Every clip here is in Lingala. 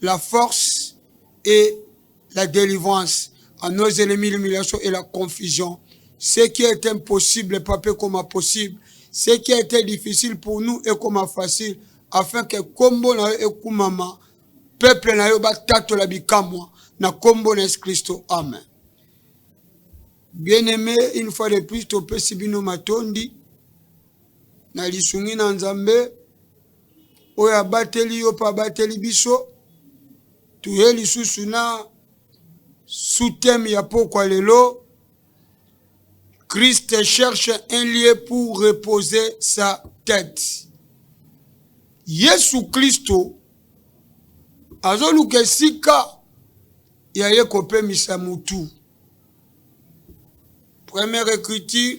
la force et la delivrance à nos ennemis l'humiliation et la confusion ce qui est impossible papa ekoma possible ce qui a été difficile pour nous ekoma facile afin que kombo na yo ekumama peuple na yo batatola bikamwa na kombo na yesu kristo amen bien aimé une fois de plus topesi bino matondi na lisungi na nzambe oyo abateli yo mpe abateli biso toye lisusu na sous-thème ya pokwa lelo christ cherche un lieu pour reposer sa tête yesu kristo azoluka esika ya ye kopemisa motu première écriture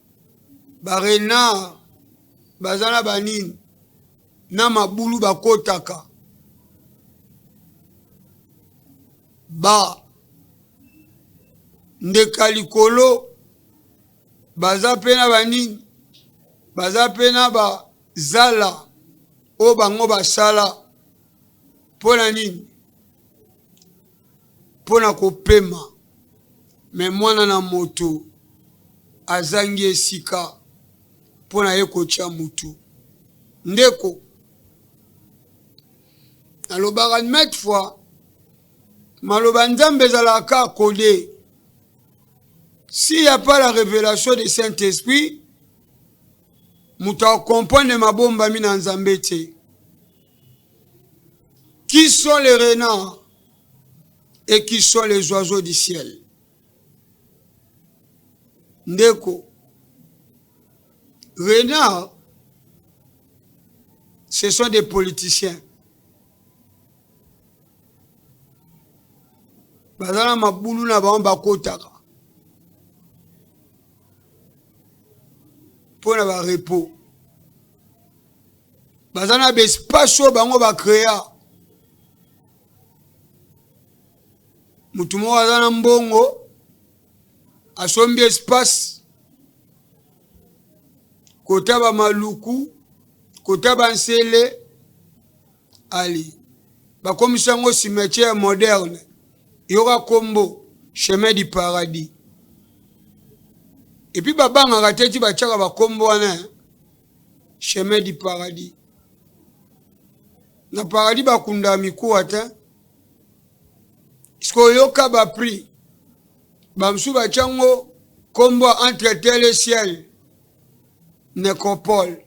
barenard baza na banini na mabulu bakotaka ba ndeka likolo baza mpe na banini baza mpe na bazala oyo bango basala mpo na nini mpo na kopema, mais Mwana na Moto azangi esika mpo na ye kotia mutu. Ndeko, nalobaka maintes fois, maloba ya Nzambe ezalaka kaka coder. S'il n'y a pas la revelation de Saint-Esprit, moto akokomprendre mabombami na Nzambe te. Qui sont les renards? et qui sont les oiseaux du ciel ndeko renard ce sont des politiciens baza na mabulu na bango bakotaka mpo na barepo baza na baespace oyo bango bacrea motu moko aza na mbongo asombi espace kota bamaluku kota bansele ali bakomisi yango cimetière moderne yoka nkombo chemin du paradis epuis babangaka te ti batyaka bankombo wana chemin du paradis na paradis bakunda mikuwa te soki oyoka baprix bamosusu batya yango nkombo entre tele ciel necropole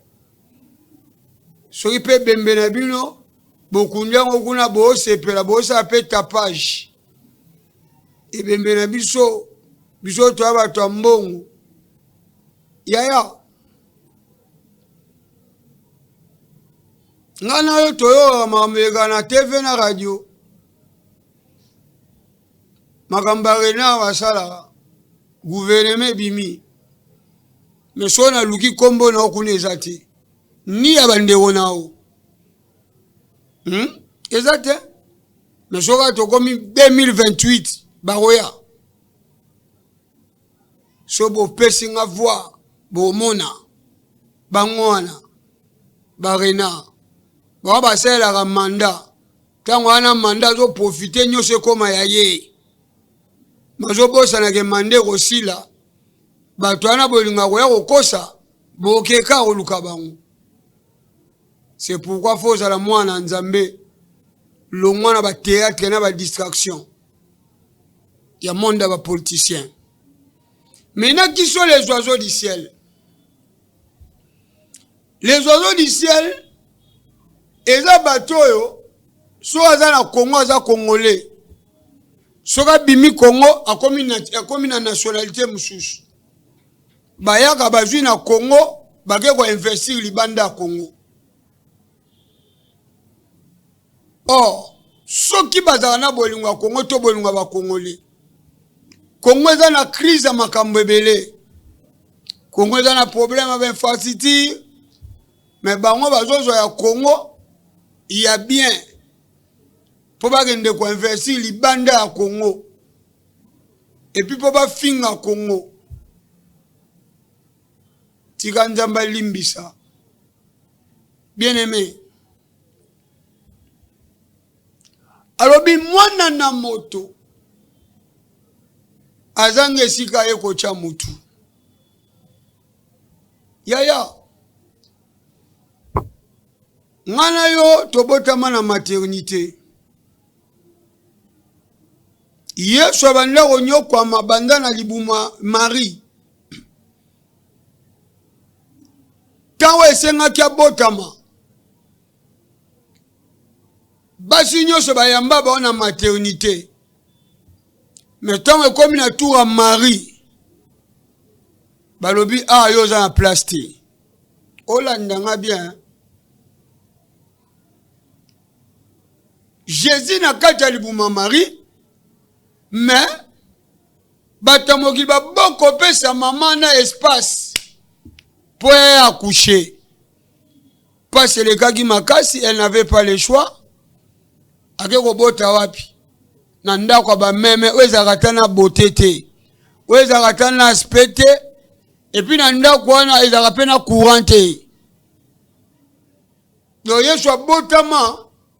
soki mpe ebembe na bino bokundi yango kuna boosepela boosala mpe tapage ebembe na biso biso toya bato ya mbongo yaya nga na yo toyoka makambo eleka na tv na radio makambo ya renard basalaka guvernema ebimi me so naluki nkombo na yo kuna eza te ni ya bandeko na yo hmm? eza te me soka tokomi 2028 bakoya so bopesi nga voix bomona bango wana barena bango basalelaka manda ntango wana manda azoprofite nyonso ekóma ya ye mazobosanake manda ekosila bato wana bolinga koya kokosa bokeka koluka bango c'est pourquoi fo ozala mwana nzambe longwa na bateatre na badistraction ya monde ya ba politicien mais na kiso les oiseaux du ciel les oiseaux du ciel eza bato oyo so aza na congo aza congolais soki abimi congo akomi na, akomi na nationalité mosusu bayaka bazwi na congo bake koinvestir libanda ya congo Or, soki bazala na bolingo ya Congo to bolingo ya bakongoli, Congo eza na crise ya makambo ebele. Congo eza na problème ya infrastructure, mais bango bazozwa ya Congo ya bien mpo bakende koinvestir libanda ya Congo epuis mpo bafinga Congo. tika nzambe alimbisa bien aime alobi mwana na moto azanga esika ye kotya motu yaya nga na yo tobotama na maternité yesu abanda konyokwama banda na libuma marie ntango esengaki abotama basi nyonso bayamba bao na maternité me ntango ekomi na tour ya marie balobi a ah, yo oza na place te olanda nga bien jésus na kati ya libuma marie mais bato ya mokili babokopesa mama na espace mpo ya accoucher mpasi elekaki makasi elle n'avait pas le choix ake kobota wapi na ndako ya bameme oyo ezalaka ata na bote te oyo ezalaka ata na aspect te epuis na ndako wana ezalaka mpe na courant te donc yesu abotama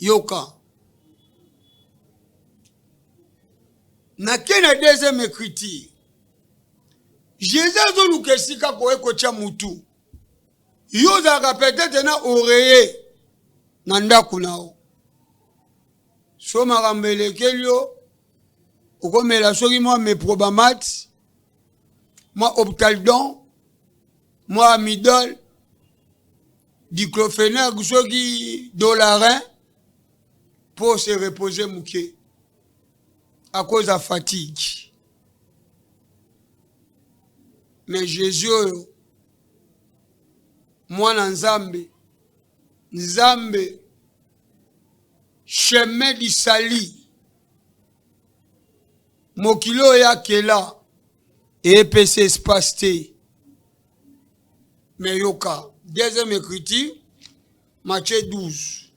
yoka nake na deuxième écriture jésus azoluka esika koye kotya motu yo ozalaka petete na oreye na ndako na yo so makambo elekeli yo okomela soki mwa meprobamate mwa optaldon mwa midol diclofenac soki dolarin mpo se repose moke akoza fatigue me jésus oyo mwana nzambe nzambe chemin du salut mokili oyo ya kela epesi espace te me yoka deuxième écriture matie 12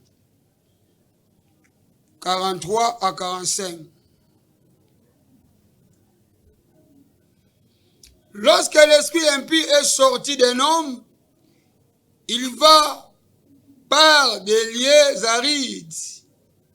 43 à 45 Lorsque l'esprit impur est sorti d'un homme, il va par des lieux arides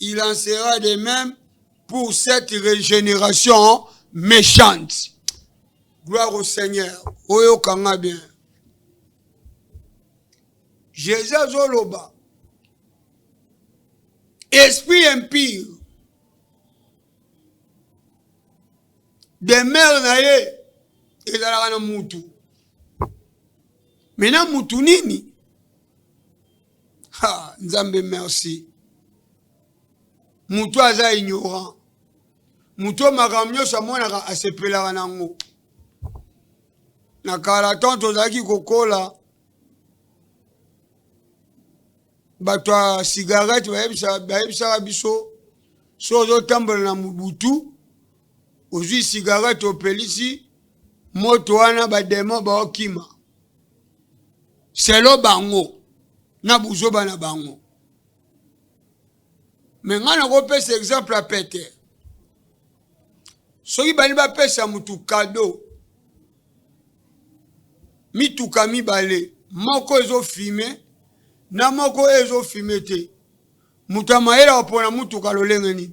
Il en sera de même pour cette régénération méchante. Gloire au Seigneur. Oyo kanga bien. Jésus azoloba. Esprit impur. Demeure na ye ezalaka na mutu. Maintenant mutu nini Ha, Nzambe merci. Moto aza ignorant. Moto makambo nyonso amonaka asepelaka na yango. Na kala temps tozalaki kokola bato ya cigarette bayebisaka biso so ozotambola na mobutu ozwi cigarette opelisi moto wana bademo baokima selon bango na buzoba na bango me ngai nakopesa exemple ya pete soki bali bapesa motu kado mituka mibale moko ezofime na moko ezofime te moto ya mayele akopona motuka lolenge nini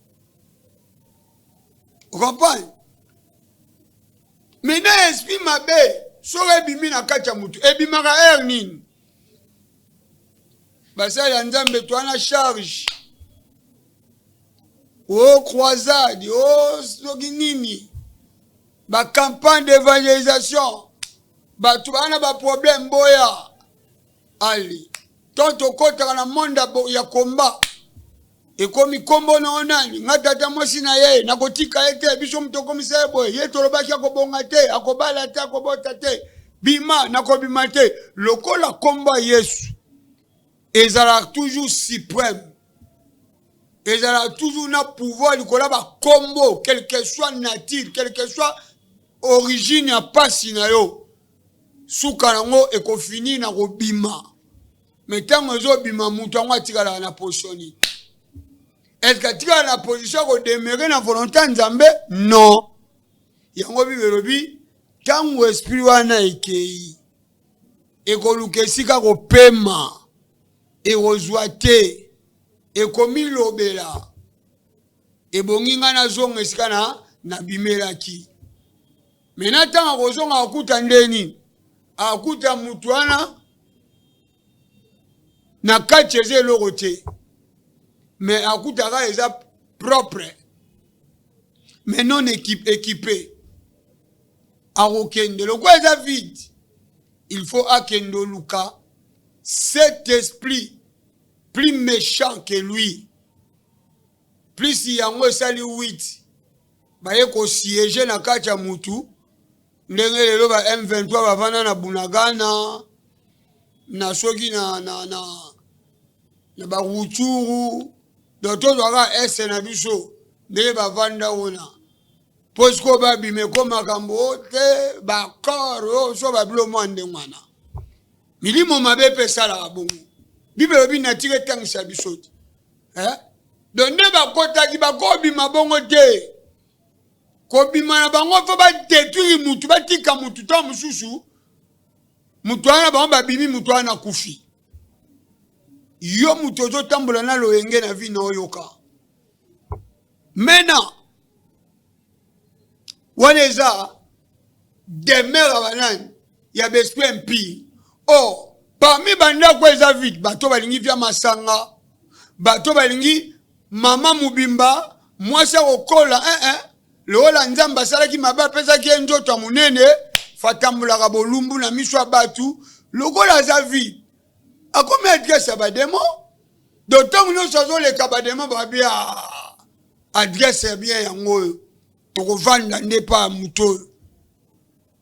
okomprendre me na esprit mabe soki ebimi na kati ya motu ebimaka heure nini basali ya nzambe twana charge o oh, croisade o oh, soki nini bacampagne d'évangélisation bato baa na baproblème boya ali to tokotaka na monde ya komba ekomi nkombo na yo nani nga tata mwasi na ye nakotika ye te biso moto okomisa ye boye ye tolobaki akobonga te akobala te akobota te bima nakobima te lokola nkombo ya yesu ezalaka toujours supreme ezalaka toujours na pouvoir likolo ya bakombo quelque soit nature quelque soit origine ya mpasi na yo suka nango ekofini na kobima me ntango ezobima moto yango atikalaka na position nini eske atikala na position ya kodemere na volonte ya nzambe non yango bible elobi ntango esprit wana ekei ekoluka esika kopema ekozwa te ekomilobela ebongi ngai nazonga esika na nabimelaki me na ntango akozonga akuta ndeni akuta motu wana na kati eza eloko te me akutaka eza propre me non ekipe akokende lokola eza vide il faut akende oluka cet esprit plus méchant que lui plus yango esali 8 baye ko siege na kati ya mutu ndenge lelo ba M23 bavanda na Bunagana na soki na, na, na, na baruchuru donc tozwaka este na biso ndenge bavanda wana mpo sikoyo babima eko makambo o te bakor o so babilo mwa ndenge wana milimo mabe mpe esalaka bongo bibelo binatiki etangisa biso te eh? do nde bakotaki bakobima bongo te kobima na bango mpo badetruire mutu batika mutu ntango mosusu mutu wana bango babimi mutu wana akufi yo mutu ozotambola na loyenge na vi na oyoka Maintenant, wana eza demeure ya banani ya besprit impire o oh, parmi bandako eza vide bato balingi vya masanga bato balingi mama mobimba mwasi akokola eh, eh. lokola nzambe asalaki mabe apesaki ye nzoto ya monene fatambolaka bolumbu na miso ya bato lokola aza vide akomi adresse ya bademo do ntango nyonso azoleka bademo babi a ah, adresse ya bien yango oyo tokovanda nde mpa ya moto oyo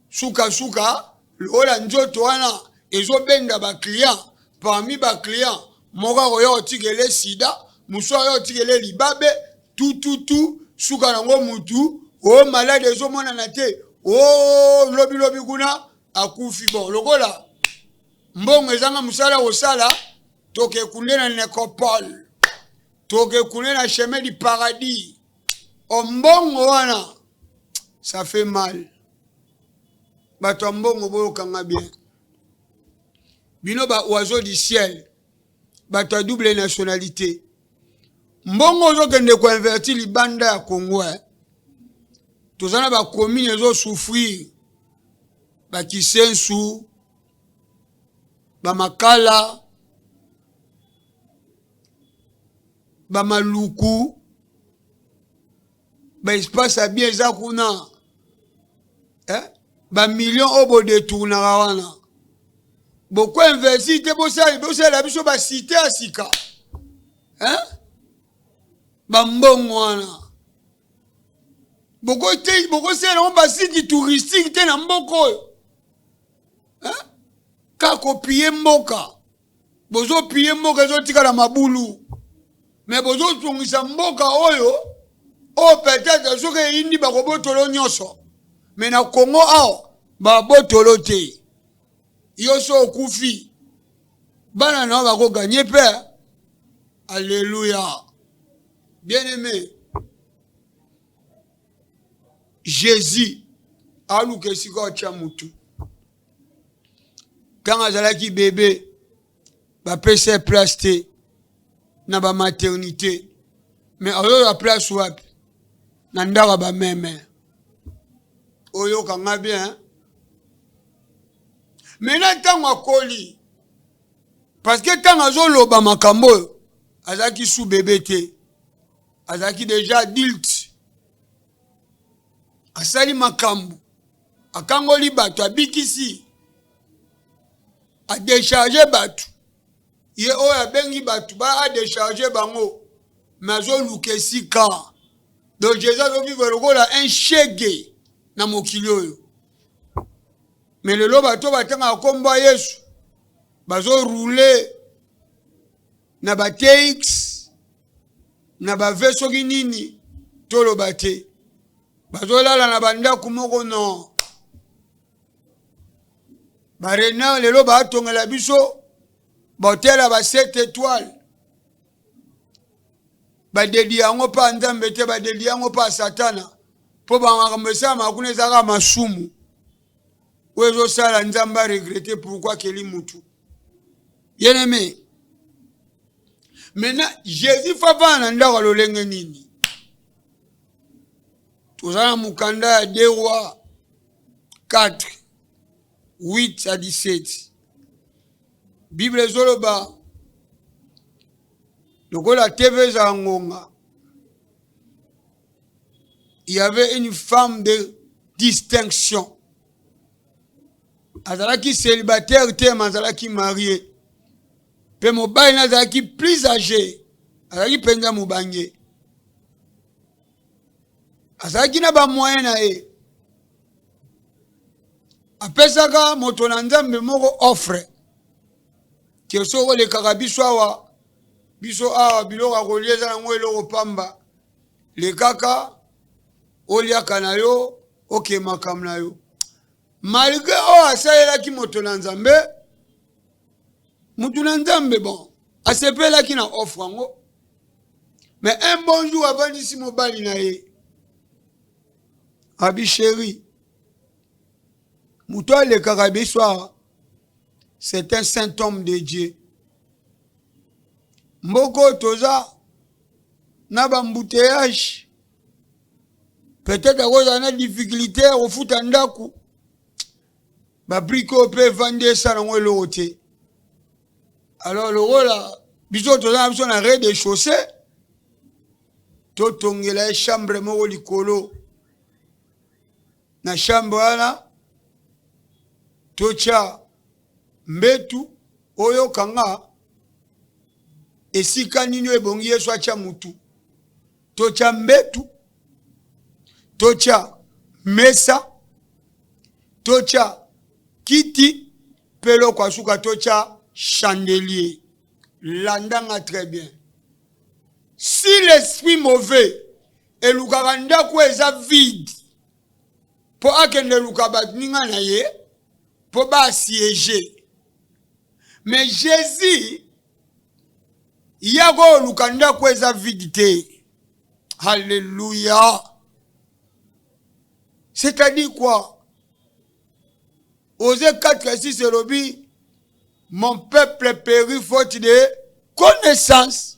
sukasuka lokola nzoto wana ezobenda baclient parmi baclient moko akoya otikele sida mosusu akoya otikele libabe tututu suka nango mutu o oh, malade ezomonana te o oh, lobilobi kuna akufi bon lokola mbongo ezanga mosala kosala tokekunde na necropole tokekunde na chemin du paradis o mbongo wana ça fait mal bato ya mbongo boyokanga bien bino ba oiseau du ciel bato ya double nationalité mbongo ozokende koinverti libanda ya congo eh? toza na bakomine ezosouffrir bakisensu bamakala bamaluku baespace ya bien eza kuna eh? bamillion oyo bodetournaka wana bokoinvesti te bosalela biso basite ya sika eh? bambongo wana bokosalela yango basite touristique te na mboka oyo hein? ka kopiye mboka bozopiye mboka ezotikala mabulu me bozozongisa mboka oyo oyo peut-être soki eyindi bakobotolo nyonso me na kongo awa babotolo te yo so okufi bana na yo bakoganye mpe alleluya bien aimé jesus aluka esika atya motu ntango azalaki bebe bapesa ye place te na bamaternité me azoya place wapi na ndako ya bameme oyoka nga bien me na ntango akoli parce que ntango azoloba makambo oyo azalaki su bebe te azalaki deja adulte asali makambo akangoli bato abikisi adecharge bato ye oyo abengi bato ba adecharge bango me azoluka esika donc jesus azovivre lokola un shege na mokili oyo me lelo bato batangaka nkombo ya yesu bazorule na ba tx na ba ve soki nini toloba te bazolala na bandako moko no barena lelo baatongela biso bahotel ya ba 7 étoile badedi yango mpa nzambe te badedi yango mpa satana mpo bamakambo esalamaka kuna ezalaka masumu ou ezo sala nzambe a regretter pourquoi akeli mutu bien aimé maintenant jésus fafana na ndako lolenge nini toza na mokanda ya de roi 4 8 à 17 bible ezoloba lokola tv ezala ngonga il y avait une femme de distinction azalaki célibataire te ma azalaki marie mpe mobali na azalaki plus age azalaki mpenza mobange azalaki na bamoye na ye apesaka moto na nzambe moko offre ke soki olekaka biso awa biso awa biloko ya kolia eza yango eloko pamba lekaka oliaka na yo oke makambo na yo malgre oyo asalelaki moto na nzambe moto na nzambe bon asepelaki na offre yango mais un bon jour avandisi mobali na ye abi sheri moto alekaka biso awa c'est un saint homme de dieu mboko toza na ba embouteillage peut-être akozala na difficulté ya kofuta ndako babrike oyo mpe evandi esala yango eloko te alors lokola biso toza na biso na rez de chaussée totongela ye chambre moko likolo Na chambre wana totia mbetu oyo kanga esika nini oyo ebongi yesu atya mutu totya mbetu totya mesa totya kiti mpe eloko ya suka totya chandelier landanga très bien si l'esprit mauvais elukaka ndako oyo eza vide mpo akende eluka baninga na ye mpo basiege me jesus yako oluka ndako eza vide te halleluya c'est-à-dire quoi oze 4 ya 6 elobi mon peuple péri faute de connaissance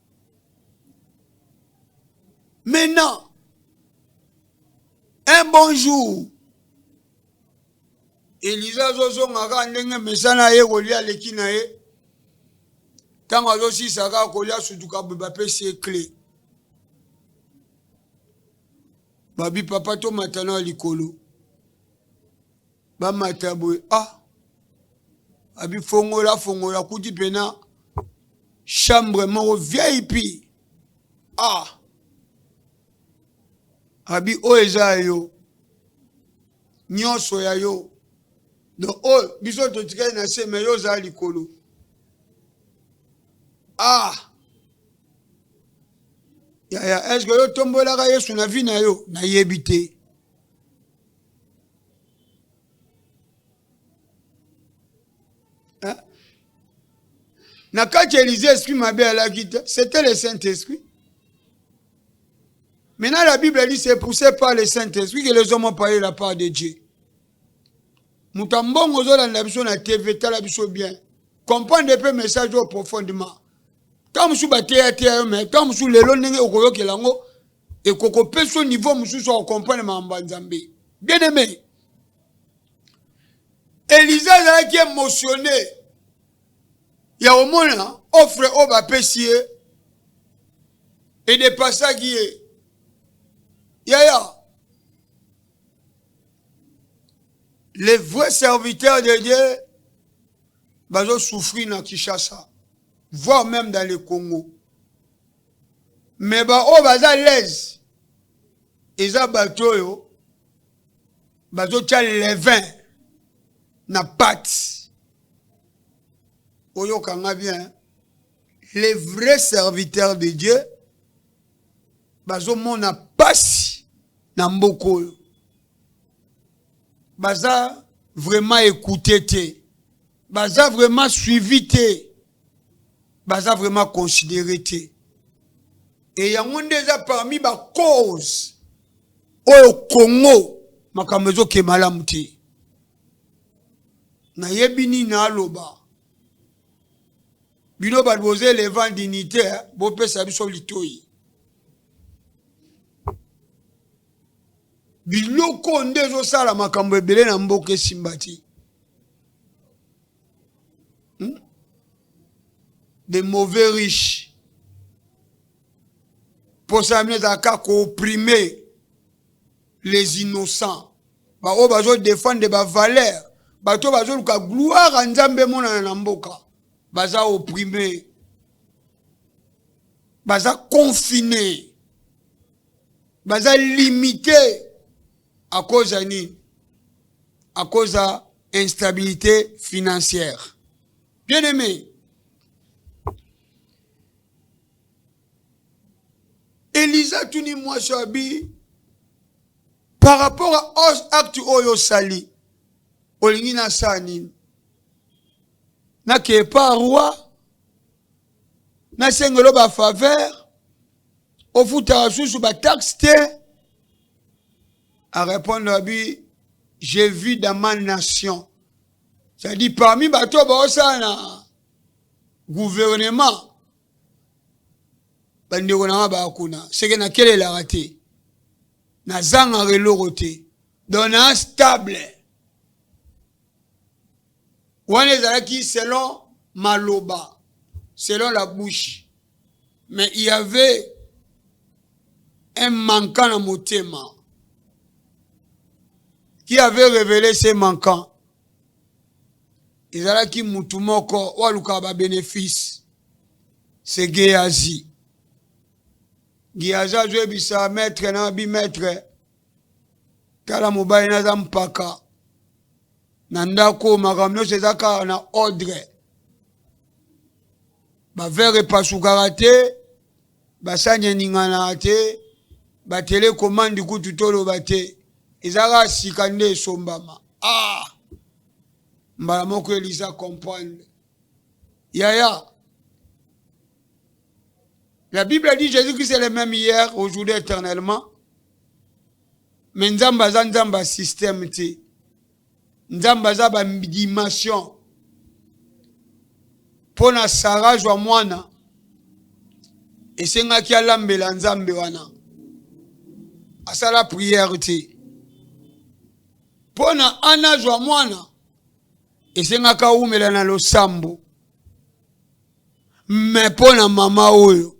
Maintenant, un bon jour, eliza azozonga kaka ndenge mesana ye kolia aleki na ye ntango azosilisa kaka kolia sutuka boye bapesi ye cle babi papa tomatana ya likolo bamata boye ah abifongola fongola kuti pena chambre moko vip ah abi oyo eza ya yo nyonso ya yo donc oyo biso totikali na se me yo ozala likolo ah yaya eske yo tombolaka yesu na vi na yo nayebi te Hein? na kati ya elize esprit mabe alaki te c'était le saint esprit maintenant la bible dit c'est poussé par le saint esprit que les hommes ont parlé la part de dieu moto ya mbongo ozolanda biso na tv tala biso bien comprendre mpe message oyo profondément ntango mosusu bateyateya yo mai ntango mosusu lelo ndenge okoyokela yango ekokopeso niveau mosusu ya comprendre makambo ya nzambe bien aimé elisa azalaki émotionné ya omona offre oyo bapesi ye edepasaki ye yaya les vrais serviteurs de dieu bazosouffrir na kinshasa voire même dans le congo mais ba oyo baza lese eza bato oyo bazotya levin na pati oyoka nga bien les vrais serviteurs de dieu bazomona pasi na mboka oyo baza vraiment ekoute te baza vraiment suivi te baza vraiment considere te e yango nde eza parmi bacause oyo congo makambo ezoke malamu te nayebi nini naloba bino bato boza elevant dignité eh, bopesa biso litoi biloko nde ezosala makambo ebele na mboka esimba te hmm? de mauvais riche mposa ya bino ezala kaka kooprime les innocents baoyo bazodefendre bavaleur bato bazoluka gloire ya nzambe emonana na mboka baza oprime baza confine baza limite à cause ya nini à cause ya instabilité financière bien aimé eliza tuni mwasi ya bi par rapport à acte oyo osali olingi nasala nini nakeye pa roi nasengelo bafaveur ofutaka susu bataxe te a répondre abi je vis dans ma nation c'est-à-dire parmi bato baosala na gouvernement bandeko na nga baya kuna seke nakelelaka te nazangaka eloko te donc naa stable wana ezalaki selon maloba selon la bouche Mais il y avait un manquant na motema qui avait révélé ce manquant ezalaki mutu moko oyo alukaka babénéfice se geazi geazi azoyebisa maître na bimaître tala mobali naza mpaka na ndako makambo nyonso eza kaka na ordre bavere epasukaka te basani eninganaka te batelekomandi kutu toloba te ezalaka sika nde esombama ah! mbala moko elisa comprendre yaya la bible dit jésus christ est le même hier aujourd'hui éternellement me nzambe aza nzambe ya système te nzambe aza ba dimension mpo na sara azwa mwana esengaki alambela nzambe wana asala priere te mpo na ana azwa mwana esengaka awumela na losambo me mpo na mama oyo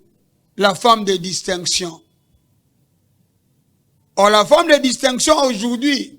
la femme de distinction or la femme de distinction aujourd'hui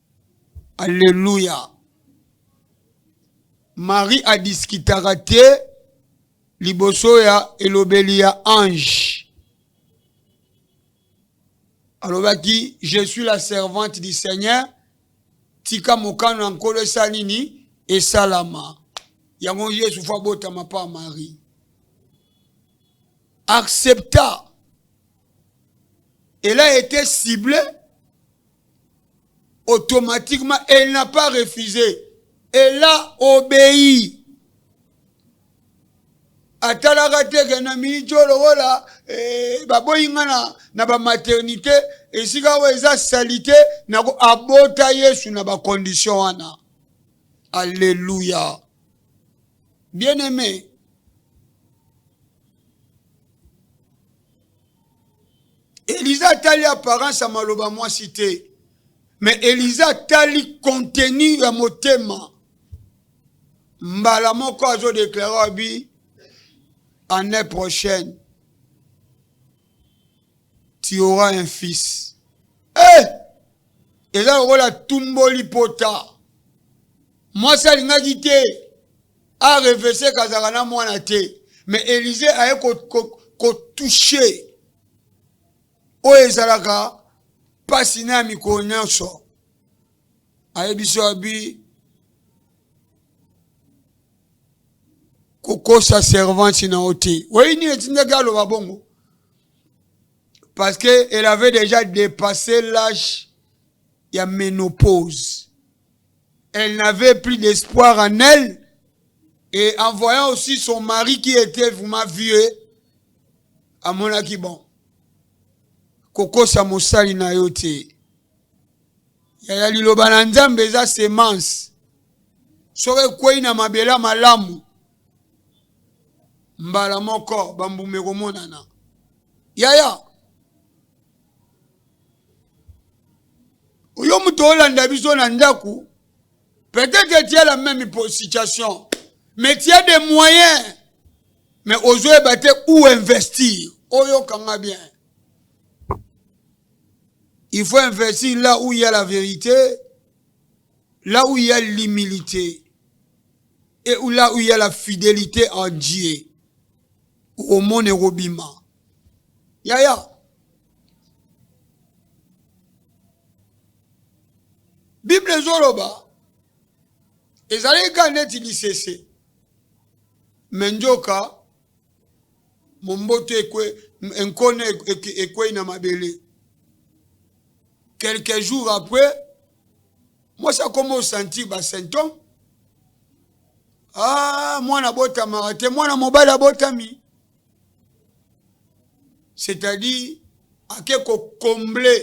Alleluia. Marie a discutaka te liboso ya elobeli ya ange. Alobaki je suis la servante du Seigneur, tika mokano ya Nkolo esala nini? Esalama. Yango Yesu fo abotama pa Marie. Accepta. Elle a été ciblée automatiquement, elle n'a pas refusé. Elle a obéi. atalaka te ke na miijo lokola eh, baboyi nga na, na bamaternité esika oyo eza salite nako abota yesu na bakondition wana alleluya bien aimé Eliza atali apparence ya maloba mwasi te, me Eliza atali contenu ya motema. Mbala moko azo deklare abi année prochaine tu auras un fils. Eh! Eza lokola tumboli pota. Mwasi alingaki te. a revese kazaka na mwana te mais elise aye kotouche ko, ko oyo ezalaka mpasi na ya mikolo nyonso ayebisi abi kokosa servante na yo te oyebi nini etindaki aloba bongo parce que elle avait déjà dépassé l'âge ya ménopause Elle n'avait plus d'espoir en elle. Et en voyant aussi son mari qui était vraiment vieux, à mon avis, bon, Koko Samosali na yo te. Yaya liloba na Nzambe eza semence. Soki ekwei na mabela malamu, mbala moko bambuma ekomonana. Yaya, oyo moto olanda biso na ndako peut-être tia la même situation mais tia des moyens mais ozoyeba te où investir oyokanga bien il faut investir là où il y a la vérité là où il y a l'humilité et là où il y a la fidélité en Dieu omone kobima Yaya. Bible ezoloba ezalaki kaka neti lisese me njoka momboto ekwe nkone ekwei na mabele quelques jours après mwasi akoma osantir basymptome ah, mwana abotamaka te mwana mobali abotami c'est à dire ake ko combler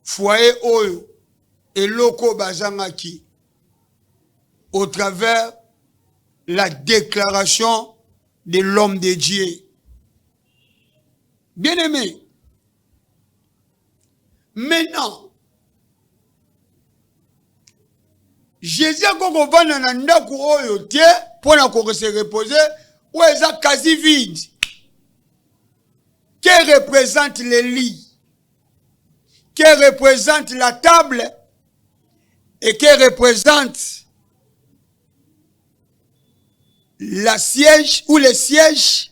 foyer oyo eloko oyo bazangaki au travers la déclaration de l'homme de Dieu. Bien-aimé, maintenant jésus akoki kovanda na ndako oyo te mpo na kokose repose oyo eza quasi vide que représente le lit que représente la table et que représente la siège ou les sièges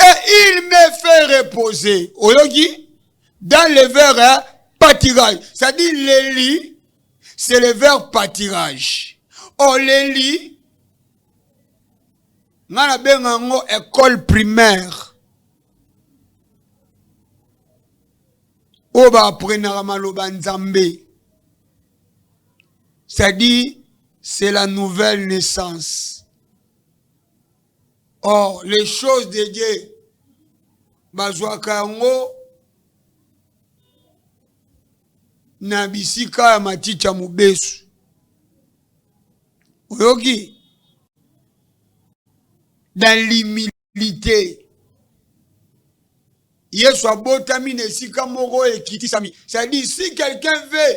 et il me fait reposer oyoki dans le verre hein, pâturage c'est-à-dire le lit c'est le verre pâturage oh le lit nga nabenga yango école primaire oyo baaprenaka maloba nzambe c'est-à-dire c'est la nouvelle naissance Or les choses de Dieu bazwaka yango na bisika ya matiti ya mobesu oyoki dans l'humilité yesu abotami na esika moko ekitisami c'est-à-dire si quelqu'un veut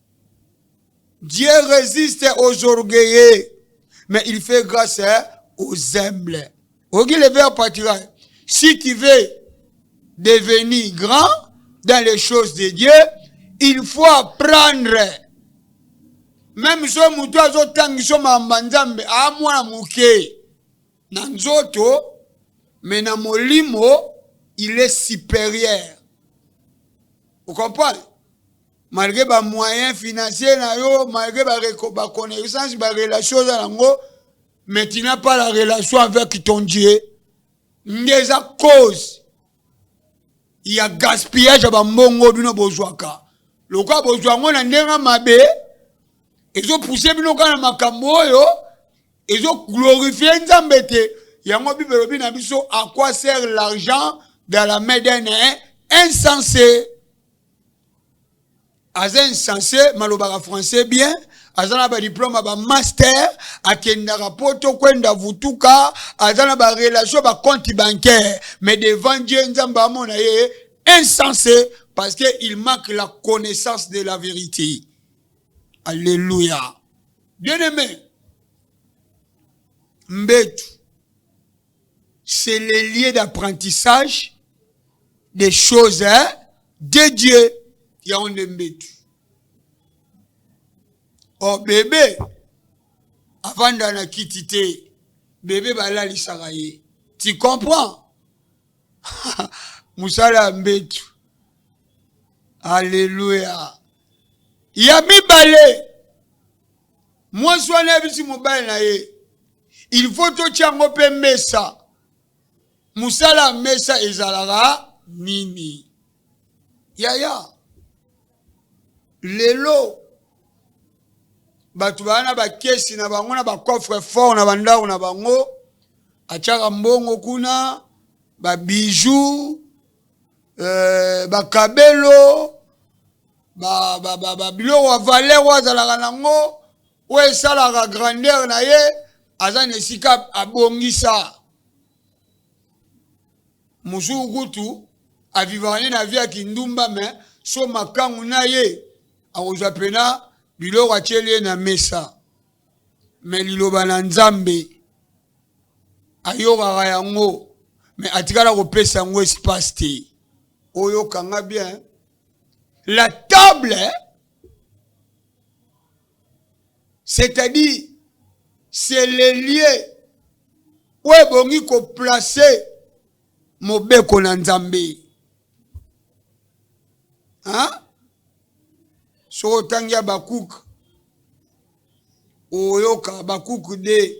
Dieu resiste aux orgueilleux, mais il fait grâce hein, aux humbles. Ogi le verbe partira. Si tu veux devenir grand dans les choses de Dieu, il faut apprendre. Même so moto azotangisa mamba nzambe amwana moke na nzoto mais na molimo il est supérieur. Vous comprenez? malgre ba moyen financier na yo malgre ba, ba connaissance ba relation oza nango mais tu n'as pas la relation avec ton dieu nde eza cause ya gaspillage ya bambongo bino bozwaka lokola bozwa yango na ndenge mabe ezopuse bino kaka na makambo oyo ezoglorifie nzambe te yango bible elobi na biso à quoi sert l'argent dans la main d'un insensé aza insense malobaka français bien aza na badiplome ba master akendaka poto kwenda vutuka aza na barelation bacompte bancaire mais devant dieu nzambe amona ye insense parce que il manque la connaissance de la vérité alleluia bien aimé mbetu c'est le lieu d'apprentissage des choses hein, de Dieu ya onde mbetu o oh, bebe avanda na kiti te bebe balalisaka ye tu comprends mosala ya mbetu alleluya ya mibale mwasi wana ayebisi mobali na ye il faut totya yango mpe mesa mosala ya mesa ezalaka nini yaya lelo bato baa na bakesi na bango na bacoffre fort na bandako na bango atyaka mbongo kuna babiju euh, bakabelo ba, ba, ba, ba, biloko ya valeur oyo azalaka nango oyo esalaka grandeur na ye aza na esika abongisa mosusu kutu avivaka nde na vie ya kindumba me so makangu na ye akozwa mpena biloko atyeli ye na mesa me liloba na nzambe ayokaka yango me atikala kopesa yango espace te oyoka nga bien la table c'est-à-dire c'est le lieu oyo ebongi koplace mobeko na nzambe soki otangi habakuke oyoka habakuke de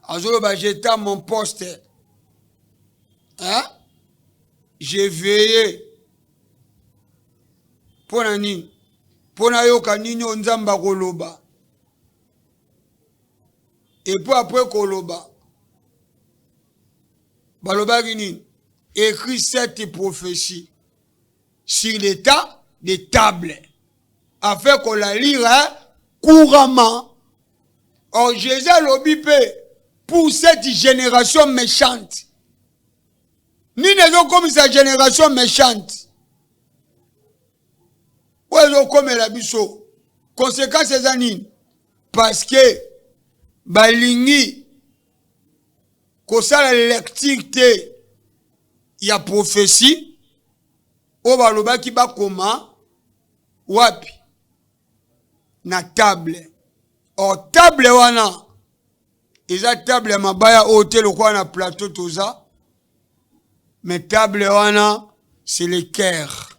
azoloba jeta mon poste hein? je veille mpo na nini mpo nayoka nini oyo nzambe akoloba Et puis après koloba balobaki nini écrit cette prophétie sur l'état de table afin qu'on la lire hein, couramment. Or, Jésus alobi mpe pour cette génération méchante. Nini ezokomisa génération méchante oyo ezokomela biso konsekansi eza nini parce que balingi kosala lecture te ya prophetie oyo balobaki bakoma wapi na table or table wana eza table ya mabaya oyo te lokola na plateau toza mais table wana c'est le cœur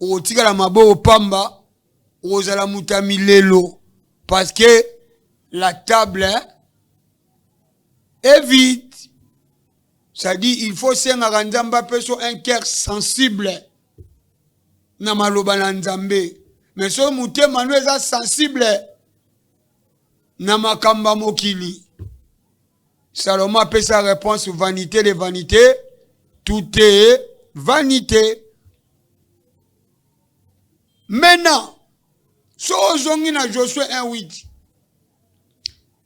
okotikala maboko pamba okozala moto ya milelo parce que la table hein, est vide c'est-à-dire il faut osengaka nzambe apeso un cœur sensible na maloba na nzambe me soki motema no eza sensible na makambo ya mokili Salomon apesa réponse vanité de vanité, tout est vanité. Maintenant, so ozongi na Josué 1:8.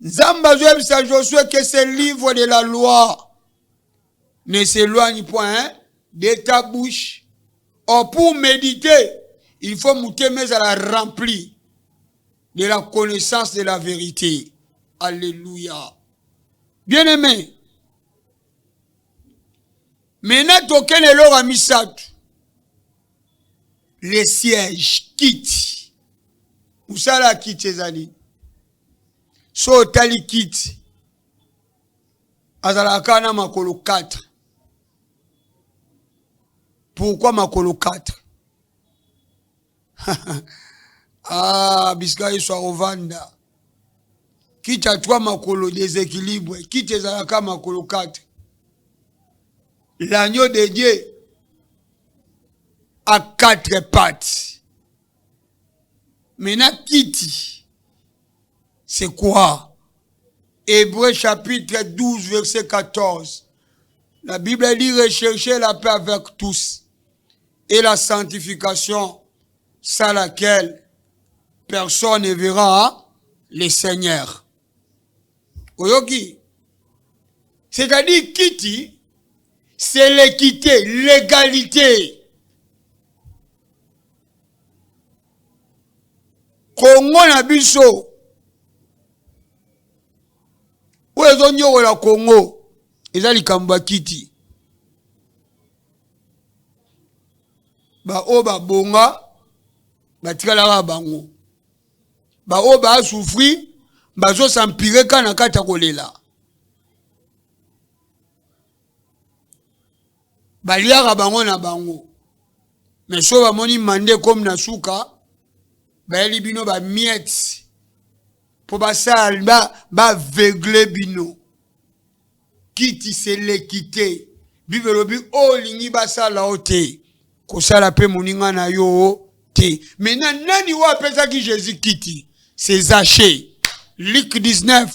Nzambe azoyebisa Josué que ce livre de la loi ne s'éloigne point hein, de ta bouche. Or pour méditer, il faut motema ezala rempli de la connaissance de la vérité. Alléluia. Bien-aimé, maintenant token eloko ya misato le siège kiti mosala ya kiti ezali so otali kiti azalaka kaka na makolo 4 pourkui makolo 4 ah, bisika yesu akovanda kiti atwa makolo deséquilibre kiti ezalaka makolo 4 l'agneau de dieu à quatre pattes maintenant kiti c'est quoi hébreu chapitre 12 verset 14 la bible dit recherchez la paix avec tous et la sanctification sans laquelle personne ne verra le Seigneur. Oyoki C'est-à-dire kiti c'est l'équité, l'égalité. Congo na biso oyo ezonyokola Congo eza likambo ya kiti baoyo babonga batikalaka bango baoyo baasufri bazosampire ka na kati ya kolela baliaka bango na bango me so bamoni mande komi na suka bayeli bino bamiete mpo basala baveugle bino Kiti se leki te. Bible elobi oyo olingi basala yo te, kosala mpe moninga na yo te. Mena nani oyo apesaki Jesus kiti? Se Zache. Luc 19.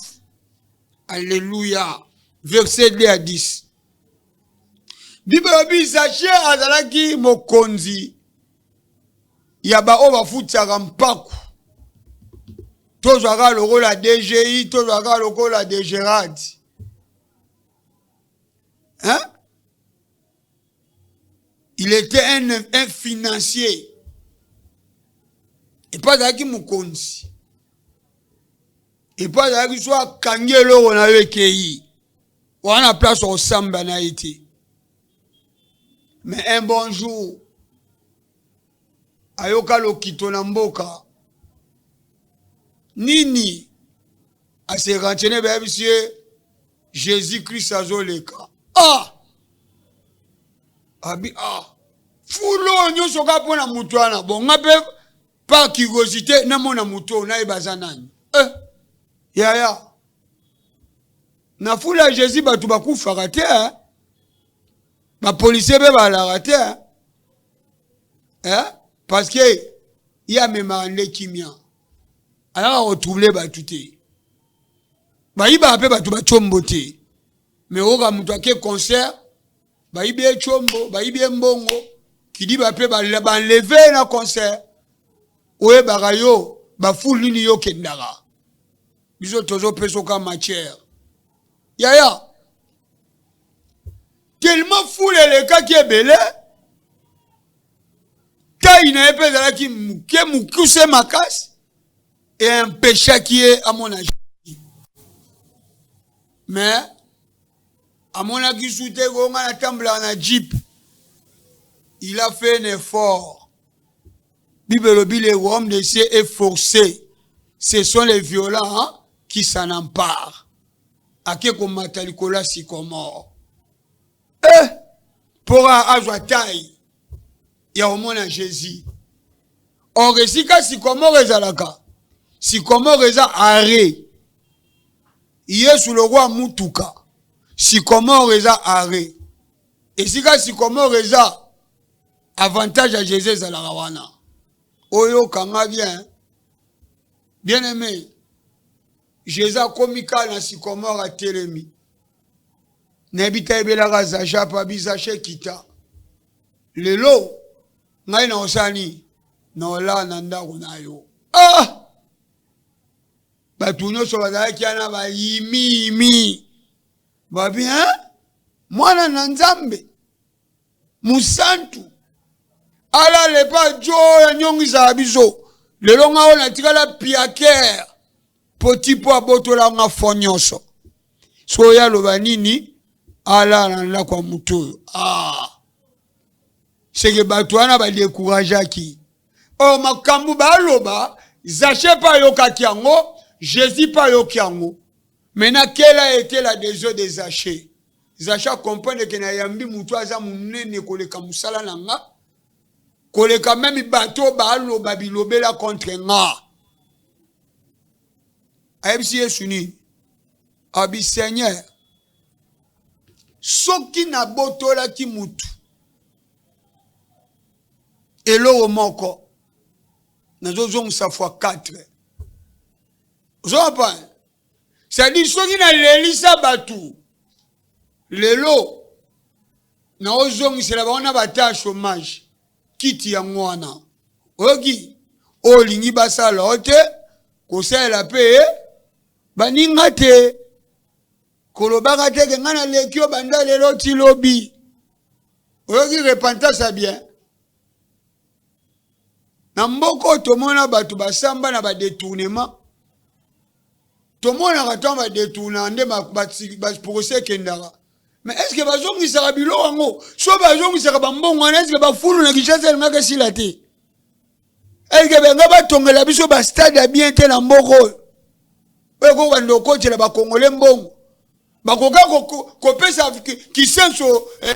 Alleluia. Verset 2 à 10. Bible elobi Zache azalaki mokonzi ya baoyo bafutisaka mpaku tozwaka lokola dgi tozwaka lokola degerad hein? il était un, un financier epo azalaki mokonzi epo azalaki so akangi eloko na yo ekei wana place okosamba na ye te mais un bon jour ayoka lokito na mboka nini ase rentene bayebisi ye jésus christ azoleka ah abi ah fulu oyo nyonso kaka mpo na moto wana bonga mpe par curiosité namona moto oyo nayeba aza nani eh, yaya Na foule ya Jesus bato bakufaka te, ba policiers be balaka te eh? parce que ye amemaka nde kimia, ayaka kotrouble bato te, bayibaka mpe bato bacombo te, me oyoka moto ake concert bayibi ye combo, bayibi ye mbongo, kidiba mpe banleve na concert, oyebaka yo bafoule nini yo okendaka biso tozo peso ka matière yaya tellement fule elekaki ebele tai na ye mpe ezalaki moke mokuse makasi e empechaki ye amona jésus mais amonaki su te ko ngai natambolaka na jeep il a fait un effort Bible elobi le royaume de Dieu est forcé. Ce sont les violents hein, qui s'en emparent. Ake komata likolo ya sycomore. Eh, mpo azwa tai ya komona Jésus. Or esika sycomore ezalaka, sycomore eza arrêt. Yesu lokwa mutuka, sycomore eza arrêt. Esika sycomore eza avantage ya jesus ezalaka wana oyoka nga bien bien aimé jesus akomi kaka na sikomore atelemi nayebi te ayebelaka zajapa bizashe kita lelo ngai na osala nini na olaa na ndako na yo ah! bato nyonso bazalaki wana bayimiyimi babi mwana na nzambe mosantu alala epa jo ya nyongisaka biso lelo nga oyo natikala piakere po tipo abotola nga fo nyonso soki oyo aloba nini alala na ndako ya moto oyo ah. seke bato wana badekurageaki oyo oh, makambo baloba zache mpe ayokaki yango jésus mpe ayoki yango me nakela etela des eaux de zache Zacha comprendre que na yambi mutu aza munene koleka musala na nga koleka meme bato baloba bilobela contre nga ayebisi yesu nini abi seigneur soki nabotolaki mutu eloko moko nazozongisa fois 4 ozokompane sadi soki nalelisa bato lelo naozongisela bango na bata ya chômage kiti yango wana oyoki oyo olingi basala yo te kosalela mpe baninga te kolobaka te ke ngai naleki yo banda lelo ti lobi oyoki repentance ya bien na mboka oyo tomona bato basamba na badetournement tomonaka ntango badetourna nde baprocès ekendaka mais est ce que bazongisaka bilo yango so bazongisaka bambongo wana est ce que bafulu na kinshasa elingaka esila te est ce que benga batongela biso bastade ya bien te na mboka oyo oyo kokobanda okotela bakongole mbongo bakoka kopesa kisenso eh,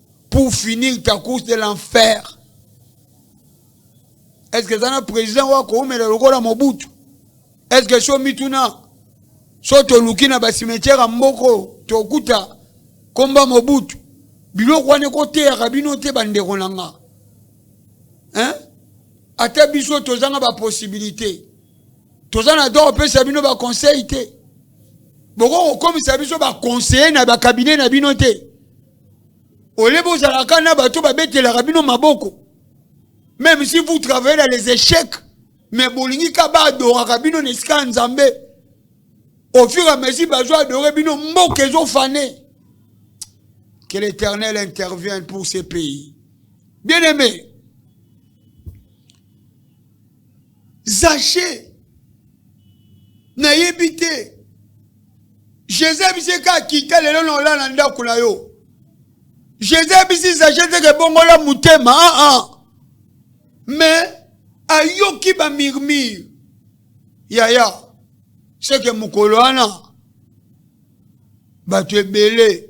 pour finir ta course de l'enfer est ce que eza na président oyo akoumela lokola mobutu est ce que so mituna so toluki na basimetiere ya mboko tokuta komba mobutu biloko wana ekoteyaka bino te bandeko na nga hein? ata biso tozanga baposibilité toza na droit kopesa bino baconseil te bokokokomisa biso baconseiller na bakabine na bino te olebe ozalaka na bato babetelaka bino maboko même si vous travaillez dans les échecs mais bolingi ka baadoraka bino na esika ya nzambe au fur et à mesure bazo adore bino mboka ezofane que l'éternel intervienne pour ce pays bien aimé zache nayebi te jesus biso eka akita lelo na olala na ndako na yo jesus biso izaje teke ebongola motema aa ah, ah. me ayoki bamurmure yaya seke mokolo wana bato ebele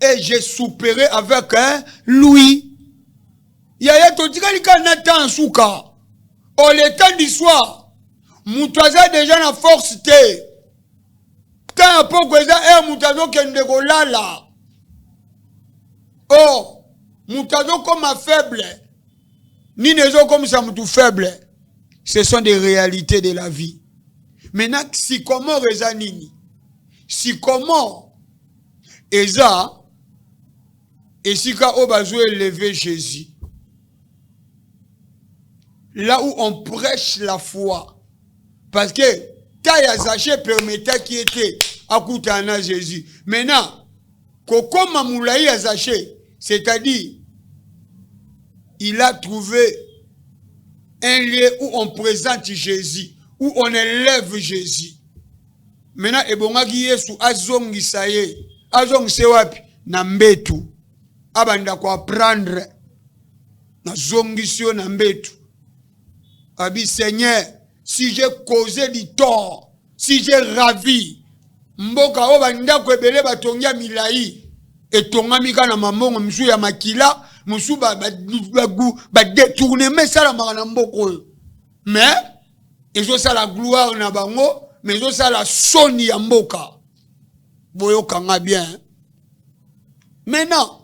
et je souperai avec hein, lui yaya totikali kaka na temps suka au oh, le temps du soir moto aza deja na force te temps ya poko eza heure eh, moto azokende kolala o oh, moto azokoma faible nini ezokomisa moto faible ce sont des réalités de la vie maintenant sikomore eza nini sikomore eza esika oyo bazo eleve Jésus là où on prêche la foi parce que taille ya Zache permetaki ye te akutana na Jésus maintenant kokoma molai ya Zache c'est-à-dire il a trouvé un lieu où on présente Jésus où on élève Jésus Mena ebongaki Yesu azongisa ye, azongisa ye wapi? Na mbetu, abanda ko apprendre, nazongisi yo na mbetu. Abi Seigneur, si j'ai causé du tort, si j'ai ravi mboka oyo bandako ebele batongi ya milai etongami kaka na mambongo mosusu ya makila mosusu badetournema esalamaka na mboka oyo mais ezosala gloire na bango me ezosala soni ya mboka boyokanga bien maintenant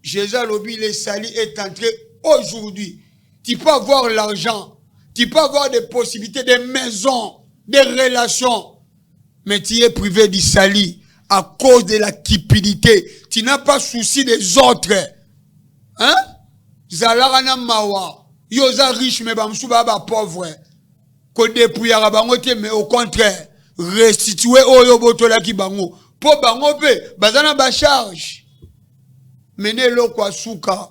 jésus alobi le sali est entré aujourd'hui tu peux avoir l'argent tu peux avoir des possibilités des maisons des relations Mais tu es privé du salut à cause de la cupidité. Tu n'as pas souci des autres. Hein? Zalara na mawa. Yo za riche mais bamsu ba ba pauvre. Ko dépouillera bango te mais au contraire, restituer oyo botola ki bango. Po bango pe bazana ba charge. Mene loko asuka.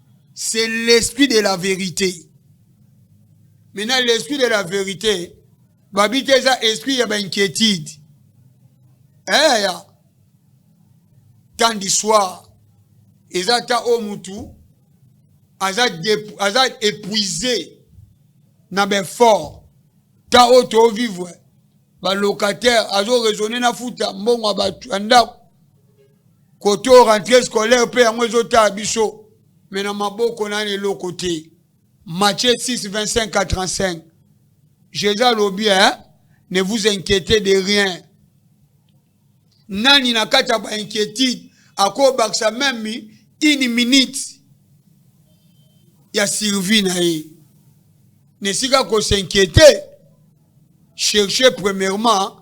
c'est l'esprit de la vérité maintenant l'esprit de la vérité babi te eza esprit ya bainquiétude eya eh, temps du soir eza ata oyo mutu aza, aza épuisé na baeffort temps oyo tovivre balocataire azoraisonne na futa mbongo ya bato ya ndako Kote oyo rentree scolaire mpe yango ezotala biso me na maboko nani eloko te Matthieu 6 25 45 Jésus alobi hein? ne vous inquiétez de rien nani na kati ya bainquiétude akobakisa meme une minute ya survie na ye na esika kosinquiete cherche premièrement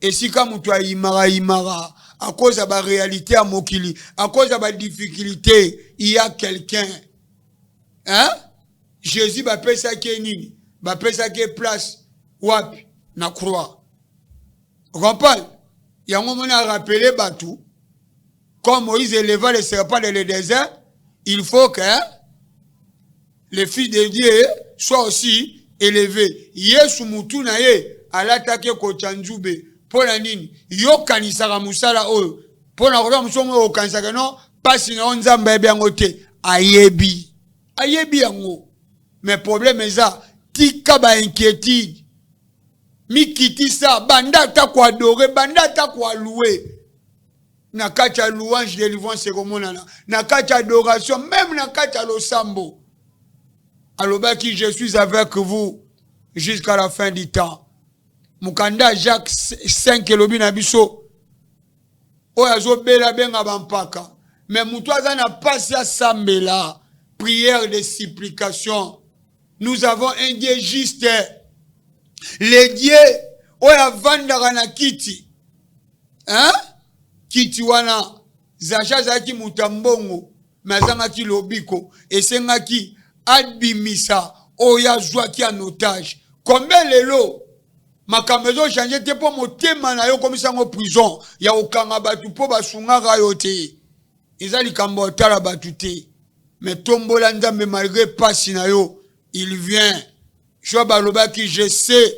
esika mutu ayimaka imaka akoza ba realite ya mokili akoza ba difficulté il y a quelqu'un hein Jésus bapesaki ye nini bapesaki ye place wapi na croix okompane yango mona arapele bato Comme Moïse éleva le serpent dans le désert, il faut que le fils de Dieu soit aussi élevé. Yesu mutu na ye alataki ekotya nzube mpo na nini yokanisaka mosala oyo mpo na koza mosu yango okanisaka no mpasi na yo nzambe ayebi yango te ayebi ayebi yango me probleme eza tika bainquiétude mikitisa banda ata koadore banda ata koaloue na kati ya louange delivrance ekomonana na kati ya adoration meme na kati ya losambo alobaki je suis avec vous jusqu'à la fin du temps mokanda jacques 5 elobi na biso oyo azobela abenga bampaka me moto aza na mpasi asambela prière de supplication nous avons un dieu juste le dieu oyo avandaka na kiti hein? kiti wana zaja azalaki moto ya mbongo me azangaki lobiko esengaki abimisa oyo azwaki en otage kombe lelo makambo ezochange te mpo motema na yo okomisa yango prison ya kokanga bato mpo basungaka yo te eza likambo ya kotala bato te me tombola nzambe malgre mpasi na yo il vient job alobaki je sais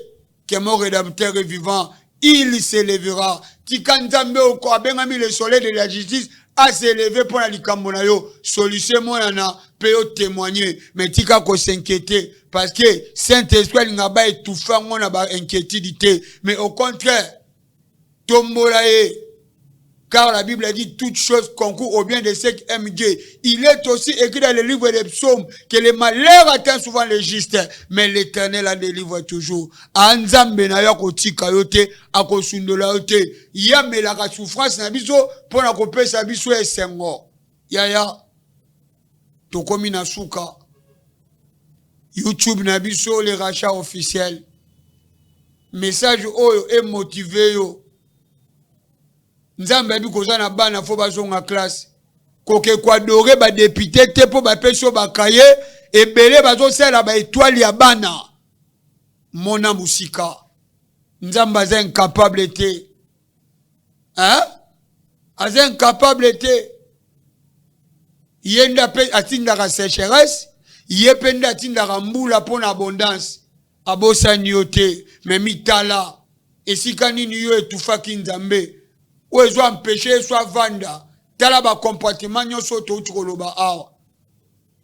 que mon rédempteur est vivant il se levera tika nzambe oko abengami le soleil de la justice aseleve mpo na likambo na yo solution emonana mpe yo témoigne me tika kosinquiete parce que saint esprit alinga ba étouffe yango na bainquiétude te mais au contraire Tombola ye. Car la Bible a dit toute chose concourt au bien de ceux qui aiment Dieu. Il est aussi écrit dans le livre des psaumes que le malheur atteint souvent les justes, mais l'éternel en délivre toujours. Anzambe na yo akotika yo te, akosundola yo te. Ye amelaka souffrance na biso mpo na kopesa biso esengo. Yaya. tokomi na suka youtube na biso le racha officiel message oyo emotive yo nzambe ayebi koza na bana fo bazonga classe koke koadore badepute te mpo bapesi yo bakaye ebele bazosalela baetoile ya bana mona mosika nzambe aza incapable te hein? aza incapable te ye nde ape atindaka sécheresse ye mpe nde atindaka mbula mpo na abondance abosani yo te me mitala esika nini yo etufaki nzambe oyo ezo ampeshe yesu avanda tala bacomportement nyonso oyo touti koloba awa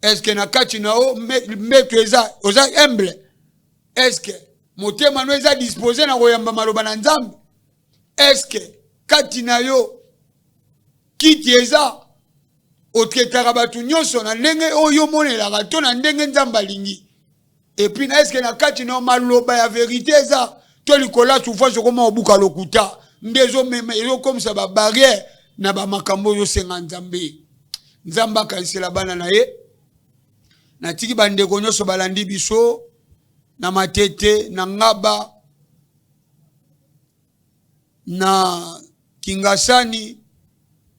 eske na kati na yo mbeto eza oza humble eske motema no eza dispose na koyamba maloba na nzambe eske kati na yo kiti eza otetaka bato nyonso na ndenge oyo omonelaka to na ndenge nzambe alingi epuis na eske na kati na maloba ya verite eza to likolo ya souffrance okoma obuka lokuta nde ezomema ezokomisa babarrière na bamakambo oyo osenga nzambe nzambe akanisela bana na ye natiki bandeko nyonso balandi biso na matete na ngaba na Kingasani,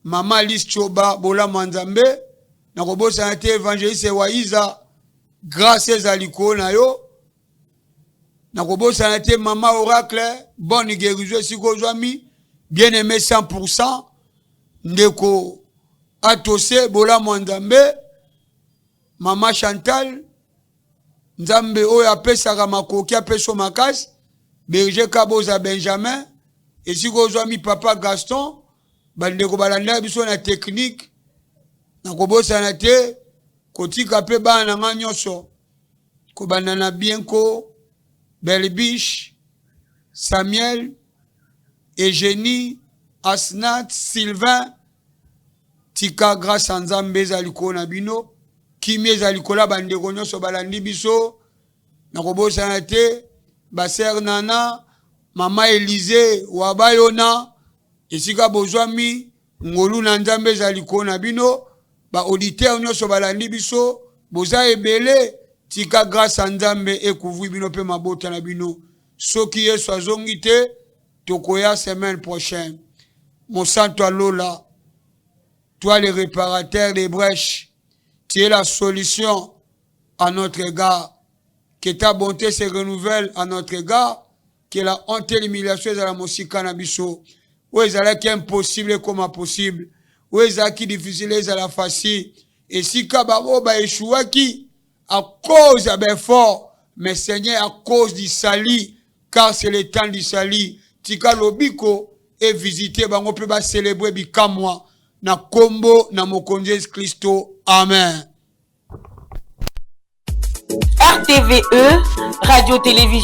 mama Alice Choba, bolamu ya Nzambe, na kobosana te evangeliste Waiza, grâce eza likolo na yo, na kobosana te mama Oracle, bonne guérison esika ozwami, bien aimé 100%, ndeko Atose, bolamu ya Nzambe, mama Chantal, Nzambe oyo apesaka makoki apeso makasi Berger Kaboza Benjamin esika ozwami papa Gaston bandeko balandaka biso na technique na kobosana te kotika mpe bana na ngai nyonso kobanda na bienko belbiche samuel egenie asnat sylvain Tika grace ya Nzambe ezala likolo na bino. Kimia ezala likolo ya bandeko nyonso balandi biso. Nakobosana te baser Nana, mama Elize, Wabayona, esika bozwami, ngolu na Nzambe ezala likolo na bino. Ba auditeur nyonso balandi biso, boza ebele. Tika grace ya Nzambe ekouvri bino mpe mabota na bino. Soki Yesu azongi te, tokoya semaine prochaine mosantu ya lola toi le réparateur des brèches tu es la solution à notre égard que ta bonté se renouvelle à notre égard que la honte et l'humiliation ezala mosika na biso oyo ezalaki impossible ekoma possible oyo ezalaki difficile ezala facile esika baoyo baeshuwaki à cause ya ba effort mais Seigneur à cause du salut car c'est le temps du salut tika lobiko e visiter bango mpe ba célébrer bikamwa na kombo na mokonzi Yesu Kristo amen RTVE, Radio Télévision